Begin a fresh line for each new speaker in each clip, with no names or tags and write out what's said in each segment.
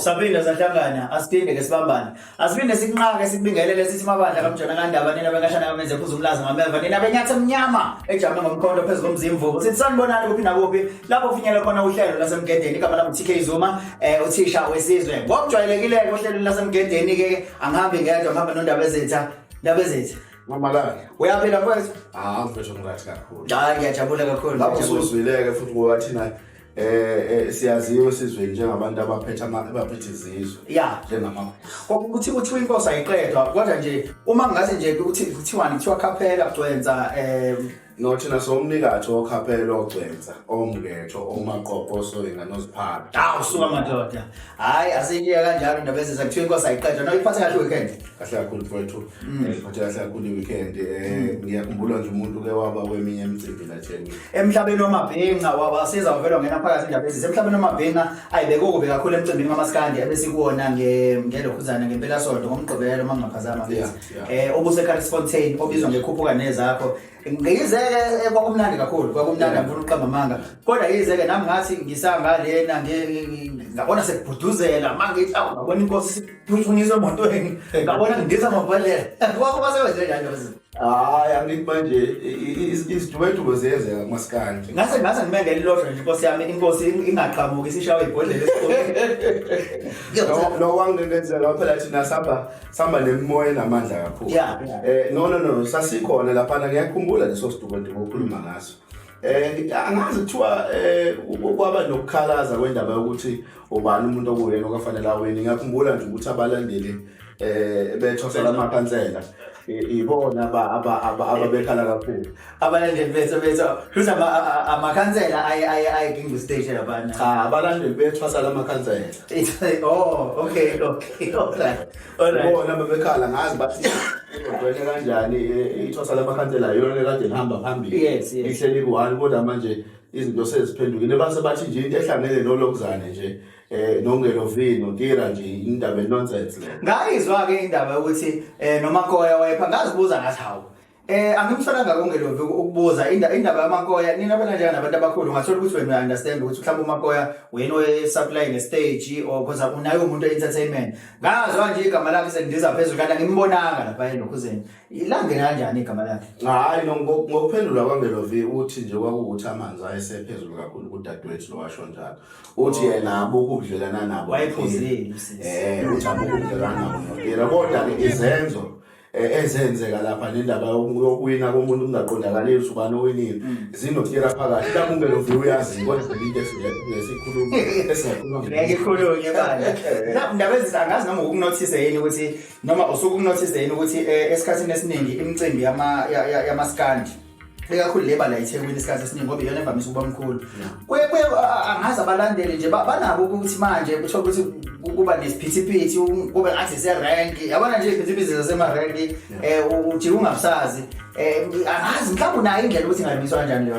saphinde sahlangana asiphinde ke sibambane asiphinde sikunqake sikubingelele sithi mabandla kamjona kandaba nina benkashana kamenze phuza umlazi ngameva nina benyatha emnyama ejame ngomkhonto phezu komzimvuko sithi sanibonani kuphi nakuphi lapho kufinyele khona uhlelo lasemgedeni igama lami TK Zuma eh uthisha wesizwe ngokujwayelekile ke ohlelweni lasemgedeni ke angihambi ngedwa ngihamba nondaba ezetha ndaba ezetha Mamalala.
Uyaphila mfowethu?
Ah, mfethu ngirathi
kakhulu. Hayi ngiyajabula kakhulu.
Lapho usuzwileke
futhi ngoba thina eh, eh siyaziwe sizwe njengabantu abaphethe abaphethe izizwe. Yeah, njengama.
Kwakuthi
kuthiwa
inkosi ayiqedwa kodwa nje uma ngathi nje ukuthi kuthiwani kuthiwa khaphela kugcwenza eh Nothina
somnikatho okhaphela ogcwensa omngetho omaqoqo osoyinga noziphala. Hawu suka madoda.
Hayi aseyiya kanjalo indaba ezenza kuthiwa inkosi ayiqeda. No iphathe kahle weekend. Kahle kakhulu mfowethu.
Mm. Eh, Iphathe kahle kakhulu i-weekend. Eh, Ngiyakhumbula nje umuntu ke waba kweminye imicimbi la Jeni. Emhlabeni wamabhinca
wabasiza uvela ungena phakathi indaba ezenza. Emhlabeni wamabhinca ayibeke okubi kakhulu emcimbini kamaskandi ebesikuwona nge ngelokhuzana ngempela sonto ngomgqibelo mangingaphazama Yeah. ngithi. eh obuseCarlsfontein obizwa ngekhuphuka nezakho ngiyizeke eh, kwakumnandi kakhulu kwakumnandi ngifuna uqamba amanga kodwa yizeke nami ngathi ngisanga lena ngabona sekubhuduzela manje ithi awu ngabona inkosi siphuthunisa emotweni ngabona ngidiza ngokubaleka kwakho basebenze njalo hayi angithi
manje izidubedube ziyenzeka kumasikandi ngase ngase ngime ngelilodwa
nje inkosi yami inkosi ingaqhamuki sishawe ibhodlela esikoleni lo wangilenzela phela
thina saba sihamba nemimoya enamandla kakhulu yeah, yeah. Eh, no no no sasikhona laphana ngiyakhumbula leso sidukoduko okhuluma ngaso Eh angazi kuthiwa eh kwaba nokukhalaza kwendaba yokuthi ubani umuntu okuyena okafanele aweni ngiyakhumbula nje ukuthi abalandeli eh bethosela amakhansela ibona ababekhala kakhulu abalandeli bethu
bethu futhi amakhansela ayegingqa isiteji labana cha abalandeli bethu
basala amakhansela oh
okay okay alright alright bona bebekhala
ngazi bathi ngibheke kanjani ithosa lamakhansela yona lekade lihamba phambili yes yes ihleli ku-one kodwa manje izinto seziphendukile base bathi nje into ehlangene nolokuzane nje eh nongelo vino tira nje indaba nonsense le ngayizwa ke indaba
ukuthi eh nomakoya wayepha ngazibuza ngathi hawu Eh angimsana ngako ngelovi ukubuza indaba yamakoya nina abalandela nabantu abakhulu ngathola ukuthi wena understand ukuthi mhlawumbe umakoya wena oye supply ne stage or cause unaye umuntu entertainment ngazwa nje igama lakhe sendiza phezulu kanti ngimbonanga lapha enokhuzeni ilange kanjani igama lakhe hayi
ngokuphendula kwangelovi uthi nje kwakukuthi amanzi ayesephezulu kakhulu kudadewethu lowasho njalo uthi oh. yena abukubudlelana nabo wayephuzile eh
uthi
abukubudlelana nabo kodwa ke izenzo Eh, ezenzeka lapha nendaba yokuwina komuntu kungaqondakali ukuthi ubani owinile mm. zinotira phakathi mhlawumbe lo view uyazi kodwa into esikhuluma esingakhulumangeke
ndaba ezisa angazi noma ukunothise yini ukuthi noma usuke ukunothise yini ukuthi eh, esikhathini esiningi imicimbi yamaskandi ikakhulu le bala ithekwini isikhathi esiningi ngoba iyona evamise ukuba mkhulu kuye kuye angazi abalandeli nje banabo ukuthi manje kuthiwa ukuthi kuba nesiphithiphithi kube ngathi serenki yabona nje iziphithiphithi zasemarenki um ujike ungabusazi um angazi mhlawumbe unayo indlela ukuthi ingalungiswa kanjani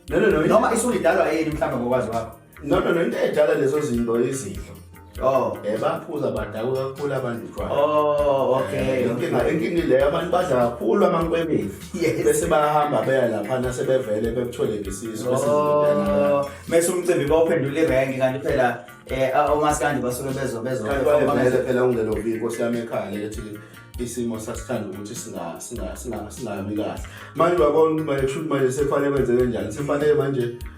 leyo nto noma isulidalwa yini mhlawumbe ngokwazi wakho no no no into edala
lezo zinto izidlo Oh, eh baphuza badakwe kakhulu abantu utshwala. Oh, okay. Eh,
inkinga inkinga le
abantu badla kakhulu amankwebevu. Yes. Bese bahamba beya lapha nase bevele bekuthole ngesizo bese oh.
mase umcimbi bawuphendula irank kanti phela eh omaskandi basuke bezo bezo. Kanti phela
ungelo biko siyame ekhaya lethi isimo sasithanda ukuthi singa singa singa singami kahle manje uyabona ukuthi manje kushuthi manje sekufanele kwenzeke njani sekufanele manje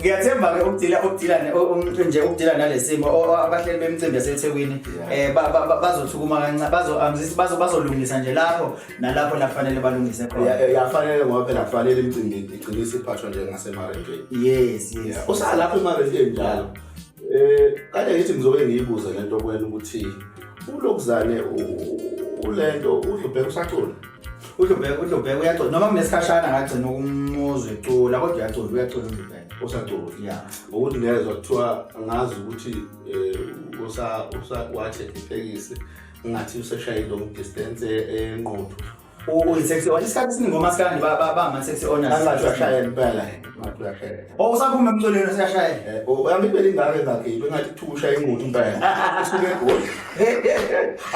ngiyathemba ke ukudila ukudila nje ukudila nalesimo abahleli bemicimbi yaseThekwini eh bazothukuma kancane bazo bazo bazolungisa nje lapho nalapho lafanele balungise khona yafanele ngoba phela
kufanele imicimbi igcine isiphathwa nje ngasemarentweni yes yes
usalapha
emarentweni njalo eh kade ngithi ngizobe ngiyibuze lento kwena ukuthi ulokuzane ulento udlubheka usacula udlubheka udlubheka
uyacula noma kunesikhashana ngagcina ukumuzwa ecula kodwa uyacula uyacula udlubheka usacula ya
ngokuthi ngezwa kuthiwa ngazi ukuthi um usa usa wathe itekisi ngathi useshaye long distance enqothu
uyisex on isikhathi esiningi omasikandi bama-sex onasashayela impela
Oh, usaphuma emculweni
siyashaya. Eh, oh, yami impela ingane
zakhe yinto engathi thusha ingqondo impela. Usuke egoli.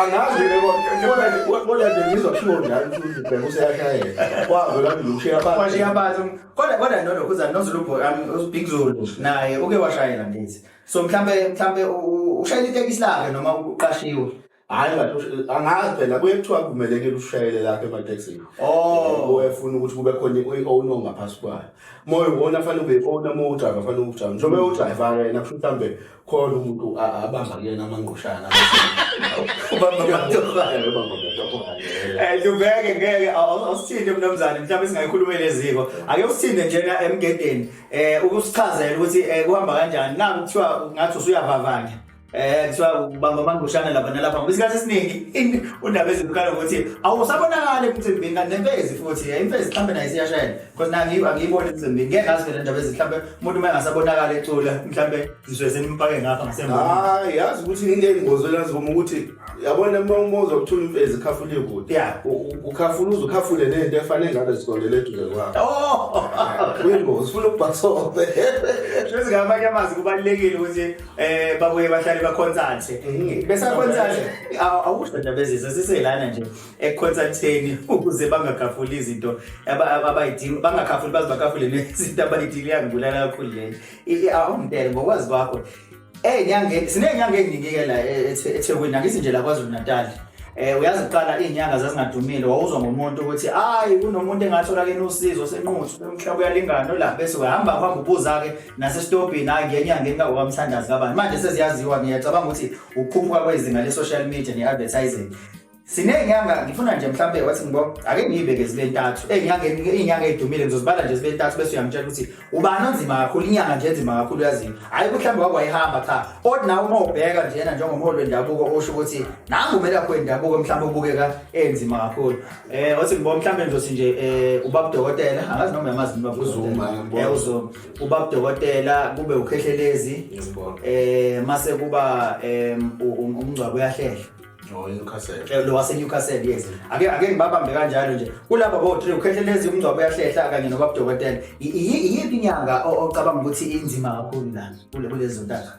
Angazi ke kodwa nje kodwa nje ngizwa kushiwo njalo ukuthi ubheka useyashayela. Kwazo la ngilushiya phansi. Washiya phansi.
Kodwa kodwa nono kuza nozulu boy ami uBig Zulu naye uke washayela ngithi. So mhlambe mhlambe ushayela itekisi lakhe noma uqashiwe. hayi ngathi
angazi phela kuye kuthiwa kumelekile ushayele lapha ematekisini oh uyefuna ukuthi kube khona i-owner ongaphasi kwayo moya wona afanele ube i-owner uma udriver afanele ukujama njengoba udriver yena kusho mhlawumbe khona umuntu abamba kuyena amangqushana
lubeke ngeke awusithinte mnumzane mhlawumbe singayikhuluma leziko ake usithinte njena emgedeni um ukusichazela ukuthi um kuhamba kanjani naku kuthiwa ngathi usuyavavanya Eh kuthiwa ubamba amangushana lapha nalapha ngoba isikhathi esiningi undaba ezibukala ukuthi awusabonakali emcimbini kanti nempezi futhi eh, impezi mhlawumbe nayo isiyashayela because na ngiba ngiyibona emcimbini ngeke ngazi phela indaba ezithi mhlawumbe umuntu uma engasabonakali ecula mhlawumbe zizwe senimphake ngapha ngasemva hayi yazi ukuthi
into eyingozi olazi uma ukuthi yabona uma uma uzokuthola imfezi khafule kude ya ukhafula uze ukhafule nento efanele ngabe zikondele eduze kwakho oh kuyingozi ufuna ukubhasobe sezingabanye
amazi kubalekile ukuthi Eh babuye bahlale bakhonsathi. Mhm. Besakhonsathi awusho nje bezizwe siselana nje ekhonsatheni ukuze bangakhafuli izinto abayidinga bangakhafuli baze bakhafule nezinto abayidinga yangibulala kakhulu le. Awumpele ngokwazi kwakho. Eh nyangeni sinenyanga eningi-ke la e, e, eThekwini angithi nje la KwaZulu Natal. eh uyazi kuqala izinyanga zazingadumile wawuzwa ngomuntu ukuthi hayi kunomuntu engathola ke nosizo senquthu umhlaba uyalingana la bese uhamba uhamba ubuza ke nasesitobhini hayi ngenye angeni kawokamthandazi kabani manje seziyaziwa ngiyacabanga ukuthi ukukhuphuka kwezinga le-social media ne-advertising siney'nyanga ngifuna nje mhlawumbe wathi ngibo ake ngiyibeke zibe ntathu iy'nyanga ey'dumile ngizozibala nje zibe ntathu bese uyangitshela ukuthi ubani onzima kakhulu inyanga nje enzima kakhulu uyaziwa hhayi mhlawumbe wake wayihamba cha kodwa nawe uma ubheka njena njengomholi wendabuko usho ukuthi nangu umele akho wendabuko mhlawumbe ubukeka enzima kakhulu Eh wathi ngibo mhlambe ngizothi nje eh ubaba dokotela angazi noma yamazi noma kuzuma ngibona. Eh uzuma. Ubaba dokotela kube ukhehlelezi. Ngiyabona. Eh mase kuba em, u- u- umngcwabo uyahlehla. Oh, iNewcastle. Eh, Lo wase Newcastle yes. Ake ake ngibabambe kanjalo nje. Kulaba bo three ukhehlelezi umngcwabo uyahlehla kanye nobaba dokotela. I- iyi- Iyiphi inyanga o- ocabanga ukuthi inzima kakhulu la kule kulezo ntaka?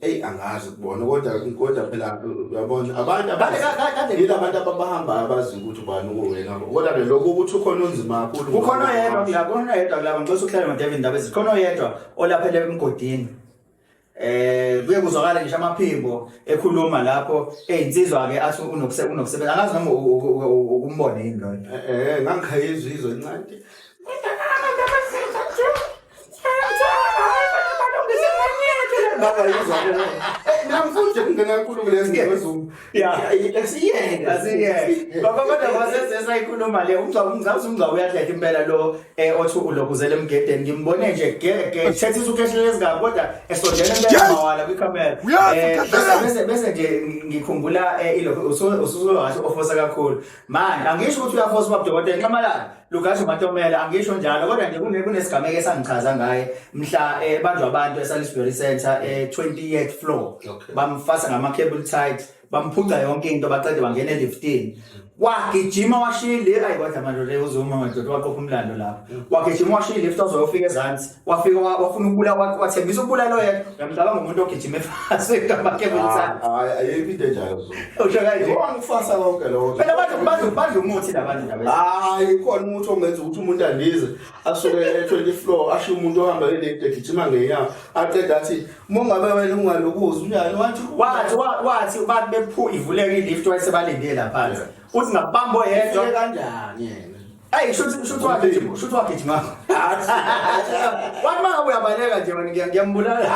Eyi angazi kubona
kodwa kodwa phela uyabona abantu Kade- ka- ka- kade- yila abantu ababahamba abazi ukuthi ubani uwena kodwa ke lokhu ukuthi ukhona onzima kakhulu kukhona oyedwa kula kukhona
oyedwa kula ngixosa ukuhlala nodavid ndaba ezinhle khona oyedwa olaphele emgodini eh kuye kuzwakala ngisho amaphimbo ekhuluma lapho eyinsizwa ke athi unokuse unokusebenza angazi noma u- u- u- u- ukumbona yini loyo Eh, eh ngangikhayizwa
izwe incane Baba yizwa mina. Eh namfuthi ngena enkulu kulezi ngezulu. Yeah, asiyeke. Asiyeke.
Baba kodwa wasesesa ikhuluma le umgca umgca umgca uyadlela impela lo eh othi ulokuzela emgedeni ngimbone nje gege. Thethisa ukhehlele ezingaka kodwa esondela impela mawala kwi camera. Eh bese bese nje ngikhumbula eh ilokho usuke usuke wathi ofosa kakhulu. manje angisho ukuthi uyafosa uba dokotela nxamalala lugasho matomela angisho njalo kodwa nje kunesigameko esangichaza ngaye mhla ebanjwa eh, abantu esalisbury center e-20 eh, yeath floor bamfasa ngama-cable tight bamphuca yonke into baqede bangena e-liftin wagijima washiya ile ayi kodwa manje le uzuma madoda waqopha umlando lapho mm. wagijima washiya ilift ozoyofika ezansi wafika wa- wafuna ukubula wa- wathembisa ukubulala oyedwa uyamcabanga umuntu ogijima efasekabakebulisa Hayi, ayikho into
enjalo so. usho kanje Yebo
angifasa konke lokho.
phela badla- badla- badla
umuthi labantu ndaba Hayi khona umuntu
ongenza ukuthi umuntu andize asuke e20 floor asho umuntu ohamba elede gijima ngenyanga aqeda athi uma ngabe wena ungalokuzi unjani wathi wathi wa- wathi
abantu bephu ivuleka ilift wayesebalindile laphansi uthi ngabamba oyedwa Ufike kanjani yena?
Hey, shuthi shuthi
wakhe nje, shuthi wakhe nje mama. Wathi maka uyabaleka nje manje ngiya- ngiyambulala.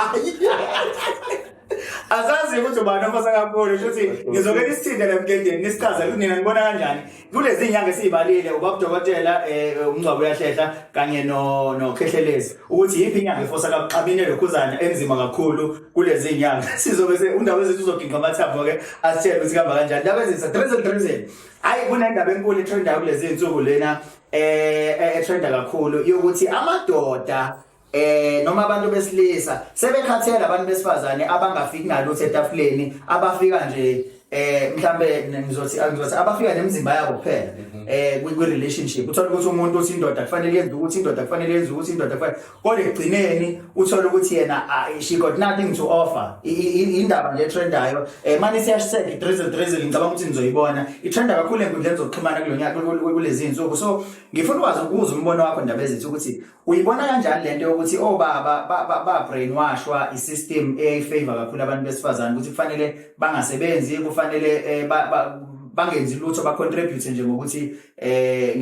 Azazi ukuthi ubani ofasa kakhulu shuthi ngizokela isithinde lemgedeni nisichaza ukuthi nina nibona kanjani. Kulezi nyanga esizibalile ubaba dokotela eh umncwabu uyahlehla kanye no no khehlelezi ukuthi yiphi inyanga efosa kaxabine lokhuzana enzima kakhulu kulezi nyanga. Sizobe se undaba zethu uzoginqa amathambo ke asitshele ukuthi kamba kanjani. Ndaba ezisa drizzle drizzle. Hayi kunendaba enkulu etrenda kulezi insuku lena eh, eh etrenda kakhulu yokuthi amadoda eh noma abantu besilisa sebekhathele abantu besifazane abangafiki nalutho etafuleni abafika nje eh mhlambe ngizothi angizothi abafika nemizimba yabo kuphela mhm. eh kwi relationship uthola ukuthi umuntu uthi indoda kufanele yenze ukuthi indoda kufanele yenze ukuthi indoda kufanele kodwa ekugcineni uthole ukuthi yena ah, she got nothing to offer indaba nje etrendayo um eh, mane siyashiseka idrizzle drizzle ngicabanga ukuthi nizoyibona ithenda kakhulu enkundleni zokuxhumana kulo nyaka kulezi nsuku so ngifuna ukwazi ukuza umbono wakho ndaba ezithi ukuthi uyibona kanjani le nto yokuthi obaba oh, ba-brainwashwa i-system eyayifavor kakhulu abantu besifazane ukuthi kufanele bangasebenzi kufanele um bangenzi lutho bacontribute nje ngokuthi eh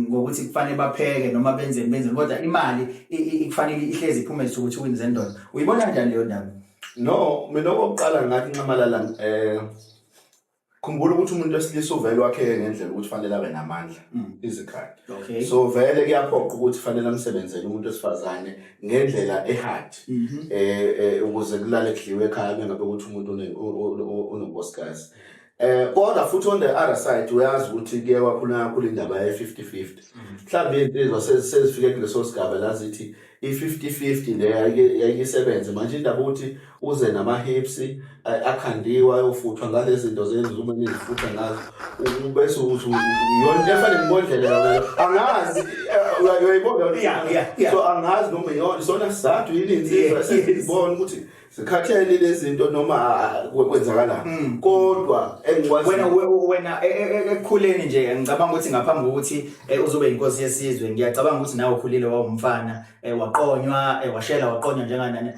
ngokuthi kufanele bapheke noma benze benze kodwa imali ikufanele ihlezi iphume ukuthi wins endona uyibona kanjani leyo ndaba no mina
okokuqala ngathi nxamalala eh khumbula ukuthi umuntu wesilisa uvele wakheke ngendlela ukuthi fanele abe namandla mm. izikhali okay. so vele kuyaphoqa ukuthi fanele amsebenzele umuntu wesifazane ngendlela ehard mhm. eh, eh ukuze kulale kudliwe ekhaya bengabe ukuthi umuntu unobosikazi Eh kodwa futhi on the other side uyazi ukuthi kuye kwakhona kakhulu indaba ye 50-50. Mhlawumbe insizwa sezi- sezifike kuleso sigaba la zithi i 50-50 le yayike yayisebenze manje indaba ukuthi uze nama hips eh, akhandiwa ayofuthwa ngalezi zinto zenzume nezifutha ngazo U- bese uthi u- u- yona into efana nemodlela yona angazi eh, uya- uyayibona Yeah, yeah, yeah. so angazi noma yona isona sizathu yini insizwa Yeah, yes. esizibona ukuthi sikhathele lezinto noma kwenzakala mm. kodwa engikwazi wena wena e, e,
e, ekukhuleni nje ngicabanga ukuthi ngaphambi kokuthi uzobe inkosi yesizwe ngiyacabanga ukuthi nawe ukhulile wawumfana waqonywa washela waqonywa njenganani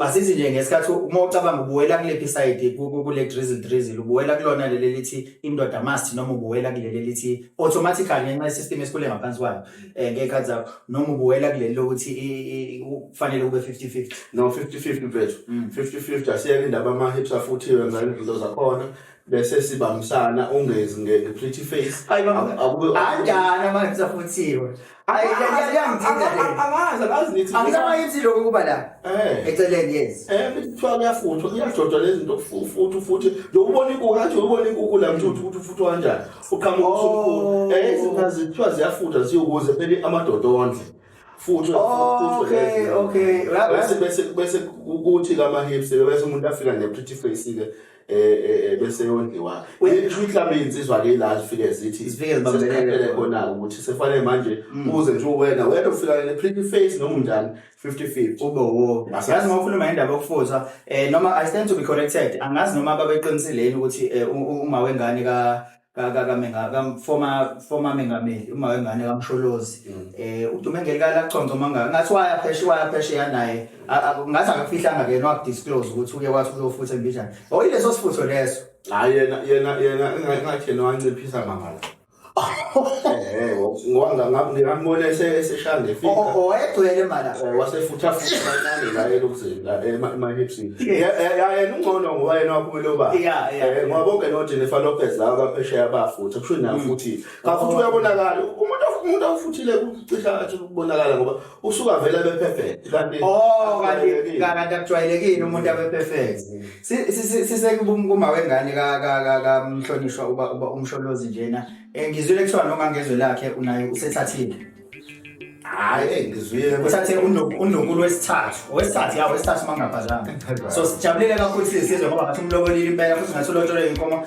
asithi nje ngesikhathi uma ucabanga ubuwela kulephi side kule drizzle drizzle ubuwela kulona leli lithi indoda must noma ubuwela kuleli lithi automatically ngenxa yesystem esikhule ngaphansi kwayo eh, ngey'khathi zakho noma ubuwela kuleli lokuthi i- i- kufanele kube 50-50 no 50-50
mfethu Mm. 50-50 asiyeke indaba ama-hips afuthiwe ngale zinto zakhona bese sibambisana ungezi nge- nge-pretty face Hayi, baba. Aku- akube- anjani
amahips afuthiwe Ayi, Angazi, ya- ya- yangithinta angazi, le. angazi, angazi nithi- anginamahips lokhu kuba la Eh. eceleni yes Eh, kuthiwa kuyafuthwa
kuyajojwa lezi zinto futhi futhi nje ubona inkukhu athi ubona inkukhu la mthuthi ukuthi ufuthwa kanjani uqhamuka usumkhulu Oh. eh izinto zithiwa ziyafutha ziyokuze phela amadoda ondle futhi Oh, okay,
okay. Ra- ra- bese bese
bese ukuthi kama hips bese umuntu afika ne pretty face ke eh, eh eh, bese yondliwa We- ngisho mhlawumbe insizwa ke la zifike zithi Zifike zibambelele sesiqaphele khona. khona ukuthi sefanele manje uze nje uwena wena ufika ne pretty face noma unjani 50-50 ube wo Yes. yazi
uma ukhuluma ngendaba yokufuza eh noma i stand to be corrected angazi noma babeqinisile yini ukuthi eh, u- u- uma wengane ka ka ka ka menga ka former former mengameli uma wengane kamsholozi Mm. eh udume ngelikala kuconza manga ngathi waya pheshe waya pheshe yanaye A- a- ngathi akafihlanga ke no disclose ukuthi uye wathi uzofutha embijana oyileso sifutho leso hayi yena yena
yena engathi yena wanciphisa mangala Eh, ngoba ngambona eseshaya ngefika. Oh, oh, wayegcwele mala.
Eh, wasefutha futhi
kancane la elokuzini la emahipsini. Eh, yena ungcono ngoba yena waphumela uba. Ngoba bonke noJennifer Lopez la abaphesheya bafutha kusho nayo mm. futhi. Ngafuthi oh. uyabonakala umuntu umuntu awufuthile kucisha athi ukubonakala ngoba usuka vele abe perfect kanti
oh kanti kanti akujwayelekile umuntu abe perfect sisekuma wengane ka ka ka kamhlonishwa uba uba umsholozi njena eh, ngizwile kuthiwa noma ngezwe lakhe unayo usethathile
hayi eh, ngizwile uthathe
uNdlunkulu wesithathu owesithathu yawo wesithathu mangaphazanga so sijabulile kakhulu sizizwe ngoba ngathi umlobolile impela futhi ngathi ulotsholwe inkomo